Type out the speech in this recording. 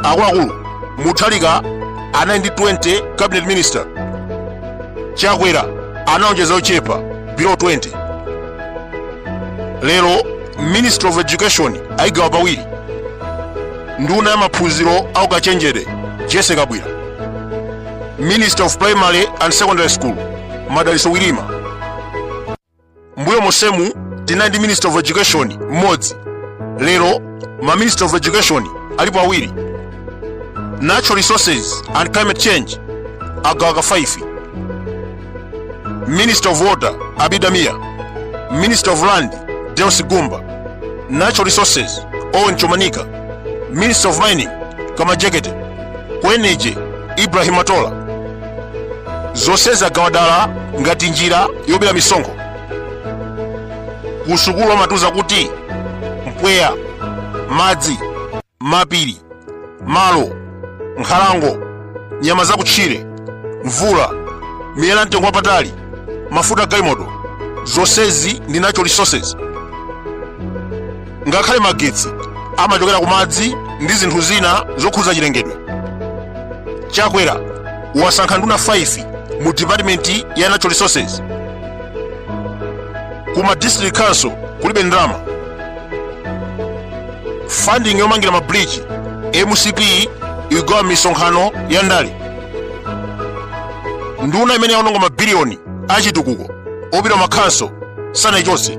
akuluakulu Mutharika anali ndi 20 cabinet minister chakwera analonjeza ochepa below 20 lero ministry of education ayigawa pawiri nduna ya maphunziro aukachenjede Jessie Kabwila minister of primary and secondary school Madalitso Wirima mbuyo monsemu tinali ndi minister of education mmodzi lero ma minister of education alipo awiri natural resources and climate change agawaka 5 minister of water abidamia minister of land deus gumba natural resources owen chomanika minister of mining kamajekete ku energy ibrahim atola zonsezi agawa dala ngati njira yobera misonkho kusukulu amatiuza kuti mpweya madzi mapiri malo nkhalango nyama zakutchire mvula miyala yamtengo wapatali mafuta galimoto zonsezi ndi natural resources ngakhale magetsi amachokera ku madzi ndi zinthu zina zokhudza chilengedwe chakwera wasankha nduna 5 mu dipatimenti ya natural resources ku ma district council kulibe ndalama funding yomangira mabridge mcp igawa misonkhano ya ndale nduna imene yaononga mabiliyoni achitukuko opita m'makhonsolo sanaichotse